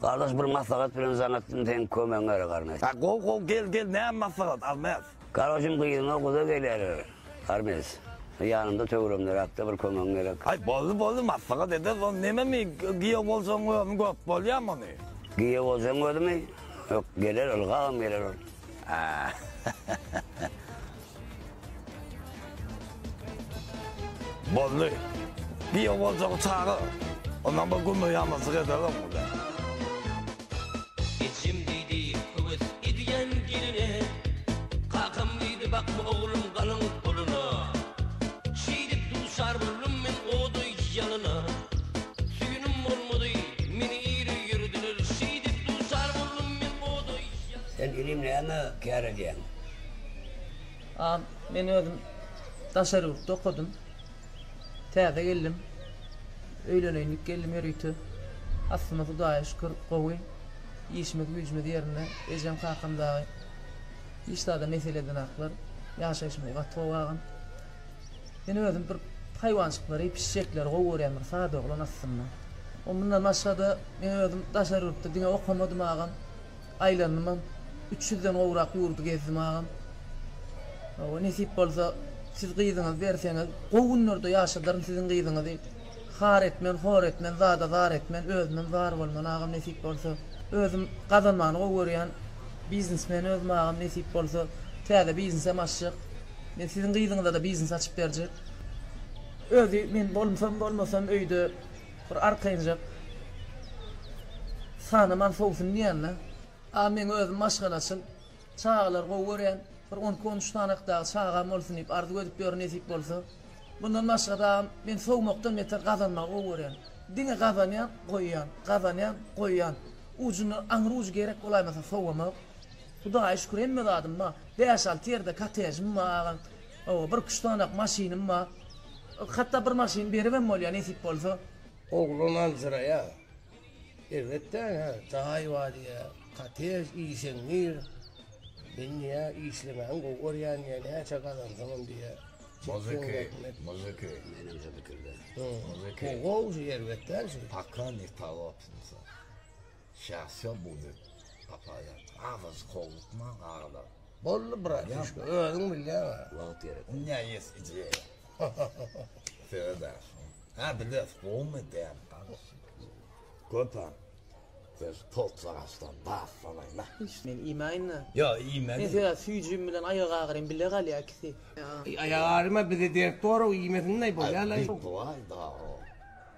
Gardaş bir maslahat bilen zanatdym seň kömegiň gerek Armes. A gowy gowy gel gel näme maslahat Armes. Gardaşym gyzyňa guda gelýärler Armes. Ýanymda töweregimderäkde bir kömegiň gerek. Aý boldy boldy maslahat ederis ony neme mi giýew bolsaň özümi görüp bolýamy ony. Giýew bolsaň özümi? Ýok geler ylgagam geler ol. Aa. Boldy. Bio boljagy çagyr. Ondan bir gümbe ýamyjyk ederem ol. Ejem diýdi, höwes edýän geline. Kakam diýdi, bakma oglum galyň puluna. Şeýdip duşar boldum men oda ýalyna. Süýnim bolmady, meni ýere ýörediler. Şeýdip duşar boldum men oda ýalyna. Sen inim näme kär edýäň? Al, men özüm daşary ýurtda okadym. Täze geldim. Öýleneýin diýip geldim ýörite. Aslymyz Hudaýa şükür gowy. Işimiz-güýjümiz ýerinde. Ejem-kakam dagy hiç zada mesele edenaklar. Ýaşaýşymyz gaty gowy agam. Men özüm bir haýwanjyklary, pişjekleri gowy görýän bir sada oglan aslynda. Mundan başga-da men özüm daşary ýurtda diňe okamadym agam. Aýlandymam. Üç ýüzden gowrak ýurdy gezdim agam. Hawa, nesip bolsa, siz gyzyňyzy berseňiz, gowy günlerde ýaşadaryn siziň gyzyňyzy. Har etmen, hor etmen, zada zar etmen, özümem zar bolman agam nesip bolsa. Özüm gazanmany gowy görýän. Biznesmen özüm agam nesip bolsa. Täze biznesem açjak. Men siziň gyzyňyza-da biznes açyp berjek. Özi men bolsam, bolmasam öýde. Bir arkaýynjak sanaman sowsun diýýänle. A meň özüm maşgalaçyl, çagalary gowy görýän, bir on iki on üç sanakdagy çagam bolsun diýip arzuw edip ýörün nesip bolsa. Mundan başga dagam men sowmakdan beter gazanmagy gowy görýän. Diňe gazanýan, goýýan, gazanýan, goýýan. Ujuna aňry ujy gerek bolaýmasa sowamak. Hudaýa şükür hemme zadym bar. Bäş alty ýerde kotejim bar agam. Hawa, bir küştdanak maşynym bar. Hatda bir maşyn beribem bolýar, nesip bolsa. Oglan aljyraýar. Elbetde, ine, jaý bar diýýär, kottej, işeň gir. Men diýýär, işlemägem gowy görýän diýýär, näçe gazansaňam diýýär. Muzyka, muzyka, menem şo pikirde. Muzyka. Gowy, elbetde, şu. Pakka, nekaga otursa. Şahşo buzy gapaýar. Agajy howlukma galar. Boldy bratişka özüň bilýäňä. Wagt gerek. Ünjä ýes idýäýe. Söz agşam. Hä biles gowumy däl garaşýa. Köpä söz poltwagaçdan bas sanaýma. Men iýmäýinda. Ýo iýme. Men söz süýjim bilen aýak agyrym bile galýa ikisi. Aýak agyryma bize dert borog iýmesin daýy bolýa laý. Bit boaý daro.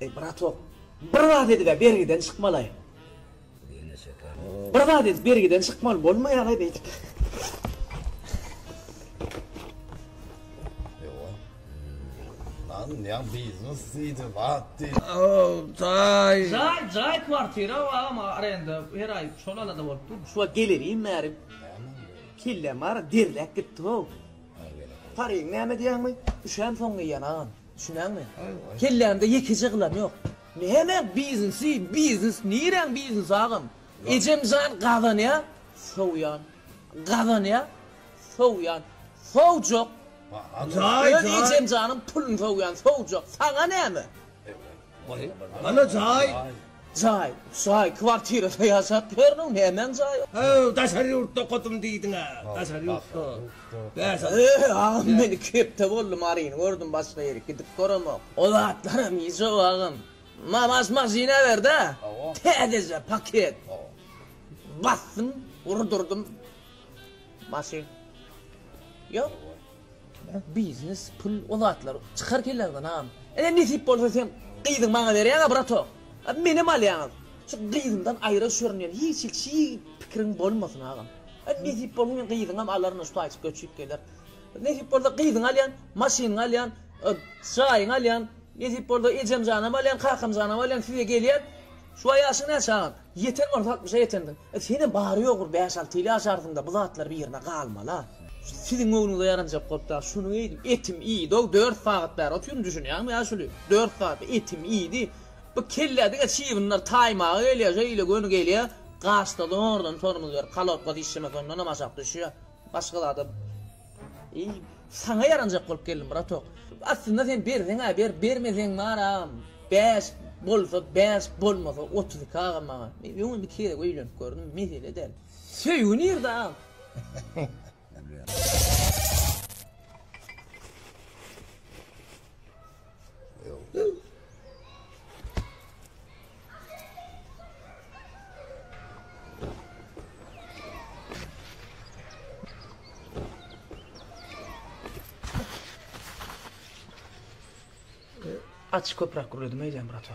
Ey bratok, bir zat edip bergiden çykmaly. Bir zat edip bergiden çykmaly bolmaýar-a beýdip. Anlaýan biznes diýdi, zat diýdi. Jaý, jaý kwartira agam arenda her aý şol alada bolup dur. Şu wagt gelerin bäri kelläm ara derläp gitdi-ow. Paryň näme diýýäňmi? Üşäm soň geýýän agam. Düşünýäňmi? Kellämde ýekeje gylan ýok. Näme biznesi, biznes niräň biznesi agam? Ejem jan gazanýar, sowýan, gazanýar, Sowýan. Sowjak. Öz ejem janym pulyny sowýan. Sowjak. Saňa näme? Goý. Ana jaý. Jaý. Jaý. Kwartirada ýaşap ýörüniň. Nämäň jaýy? Haw, daşary ýurtda okadym diýdiň-ä. Daşary ýurtda. Bäş ýyl. Eý, agam men iki hepde boldy Maryny gördüm başga ýere gidip göremok. O zatlaram ýejo agam. Mamas maşyna ber-dä. Täzeje paket. Basdym, urdurdym. Maşyn yok Birak biznes pul o zatlar çykar kelleňden agam eger nesip bolsa sen gyzyňy maňa berýäňä bratok a menem alýaňyz şu gyzymdan aýra şörünýän hiç hil çi pikiriň bolmasyn agam a nesip bolsa men gyzyňam alaryn şu taýyp göçüp geler nesip bolsa gyzyňy alýan maşynyňy alýan a jaýyňy alýan nesip bolsa ejemjanam alýan kakamjanam alýan size gelýän şu waý ýaşyň näçe agam. Ýeten bolsa altmyşa ýetendir. Senem bary ýogy bir bäş-alty ýyl ýaşarsyň-da, bu zatlar bir ýerde galmala. Siziň göwnüňize ýaranjak bolup-da, şuny eýdim, etim iýdi-ow, dört sagat bäri otyryn, düşünýäňmi ýa şuly? Dört sagat etim iýdi. Bu kellä diňe çybynlar taýmaga gelýär, şeýle göni gelýär, gaşda zordan tormuz berip, halopka dişlemesi ondanam aşak düşýär. Başga zada. Eý, saňa ýaranjak bolup geldim, bratok. Aslynda sen berseň-ä ber, bermeseň bar-a, bäş bolsa bäş, bolmasa otuz iki agam maňa. Men öňem iki gezek öýlenip gördüm, mesele däl. Söýgi nirde agam? Aç köprak gürledim eýdem brata.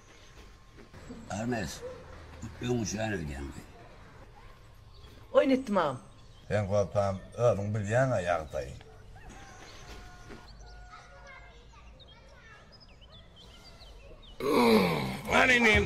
Armes öň üçän öýdäňdi. Oýun etdim agam. Sen gorkam özüň bilýäňä ýagdaýy. Hany inim.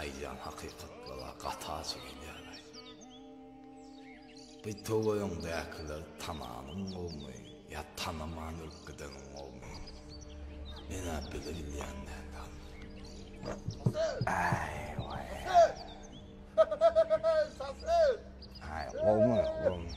Aýdýan hakykatlara gaty ajy gelýäraý. Bu töweregiňdäkiler tananyň gowmy ýa tanaman ölüp gideniň gowmy? Men-ä biri bilýän däl dal. Aý we. Şaser! Şaser! Ay gowmy gowmy.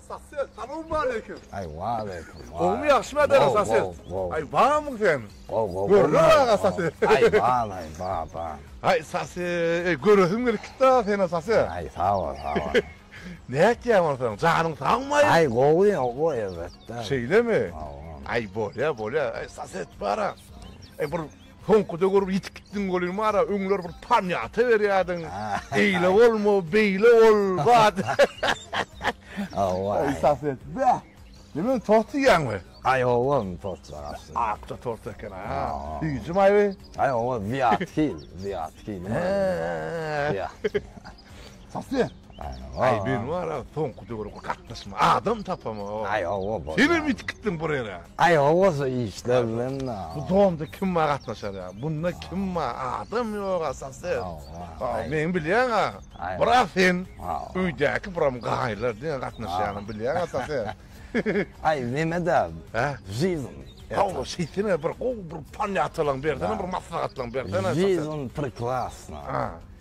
Saset, salam aleyküm. Ay wa aleyküm. Gowmy ýagşymy adara saset. Ay bamyň sen. Gow gow. Görle aga saset. Ay bam ay ba ba. Ay saset, ey göresim gelip gitdi aga seni saset. Ay sag ol sag ol. Nätýäň bolsaň, janyň sagmy ay? Ay gowy gowy elbetde. Şeýlemi? Ay bolýa bolýa. Ay saset bara. Ay bir Soňkuda görüp ýitip gitdiň welin bar-a, öňler bir pamýata berýärdiň, eýle bolma, beýle bol, bat. Hawa. Aý Safet, bä! Neme, tort diýýäňmi? Aý hawa, tort bar aslynda. Akja tort eken-a. Süýji maýly? Aý hawa, Wiatkill, Wiatkill. He. Wiatkill. Sasy. Aý men wara soňky döwürki gatnaşma adam tapamok. Aý owo bol. Sen hem ýitip gitdiň bir ýere. Aý owo şu işler bilen. Bu domda kim bar gatnaşar ýa? Bunda kim bar? Adam ýok asasy. Aý men bilýän a. Biraz sen öýdäki buram gaýlar diňe gatnaşýanyny bilýän asasy. Aý Memet a. Hä? Zizun. Hawa şeýtene bir gowy bir panýatalaň bersene bir maslahatlaň bersene. Zizun prekrasna.